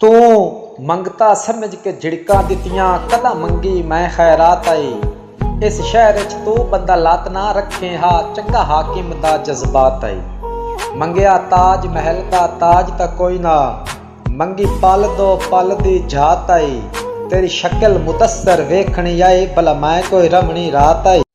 توں منگتا سمجھ کے جھڑکاں ݙتیاں کݙاں منگی میں خیرات آئی اس شہر اچ توں بندہ لات نہ رکھیں ہا چنگا حاکم دا جذبات آئی منگیا تاج محل دا تاج تاں کوئی نہ منگی پل دو پل دی جھات آئی تیݙی شکل مدثر ویکھݨی آئی بھلا میں کوئی رہوݨی رات آئی۔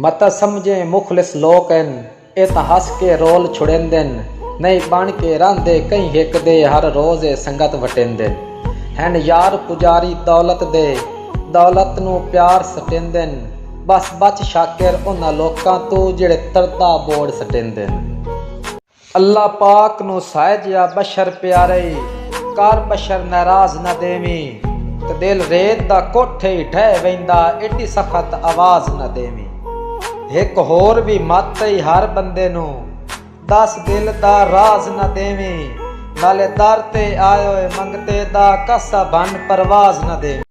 متاں سمجھیں مخلص لوک ہن اے تاں ہس کے رول چھڑیندن نئیں بݨ کے رہندے کہیں ہک دے ہر روز اے سنگت وٹیندن ہن یار پجاری دولت دے دولت نوں پیار سٹیندن ٻس بچ شاکر انہاں لوکاں توں جیڑھے تردا ٻوڑ سٹیندن۔ اللہ پاک نو سائے جیا بشر پیارے ای کر بشر نعراض نہ دینویں تے دل ریت دا کوٹھے ای ڈھے ویندا ایڈی سخت آواز نہ دینویں ہک ہور وی مت ای ہر بندے نو دس دل دا راز نہ دینویں نالے در تے آئے ہوئے منگتے دا کسہ بھن پرواز نہ دینویں۔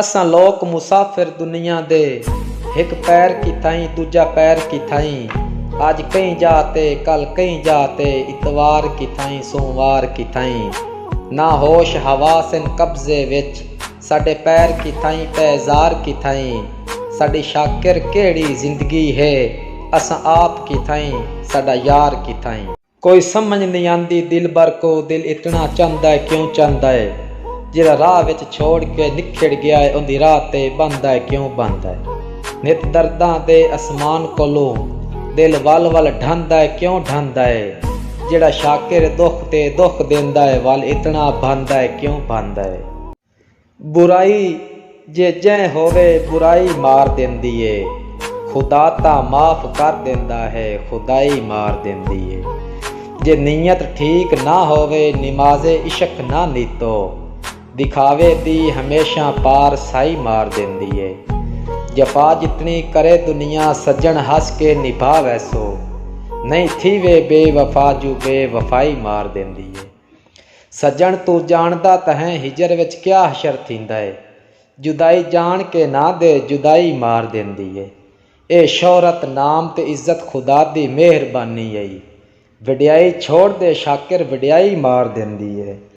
اساں لوک مسافر دنیا دے ہک پیر کیتھائیں ݙوجھا پیر کیتھائیں اڄ کہیں جاء تے کل کہیں جاء تے اتوار کیتھائیں سوموار کیتھائیں نا ہوش حواس ان قبضے وچ ساݙے پیر کیتھائیں پیزار کیتھائیں ساݙی شاکر کیہڑی زندگی ہے اساں آپ کیتھائیں ساݙا یار کیتھائیں۔ کوئی سمجھ نئیں آندی دلبر کوں دل اتنا چاہندا اے کیوں چاہندا اے جیڑھا راہ وچ چھوڑ کے نکھڑ گیا اے اوندی راہ تے بہندا اے کیوں بہندا اے نت درداں دے اسمان کولوں دل ول ول ڈھہندا اے کیوں ڈھہندا اے جیڑھا شاکر دکھ تے دکھ دیندا اے ول اتنا بہندا اے کیوں بہندا اے۔ برائی جے جئیں ہووے برائی مار دیندی اے خدا تاں معاف کر دیندا ہے خدائی مار دیندی اے جے نیت ٹھیک نہ ہووے نماز عشق نہ نیتو دکھاوے دی ہمیشہ پار سائی مار دیندی اے جفا جتنی کرے دنیا سجݨ ہس کے نبھا ویسو نئیں تھیوے بے وفا جو بے وفائی مار دیندی اے۔ سڄݨ توں ڄاݨدا تہیں ہجر وچ کیا حشر تھیندا ہے جدائی ڄاݨ کے نہ دے جدائی مار ݙیندی ہے اے شہرت نام تے عزت خدا دی مہربانی ہئی وݙیائی چھوڑ دے شاکر وݙیائی مار ݙیندی ہے۔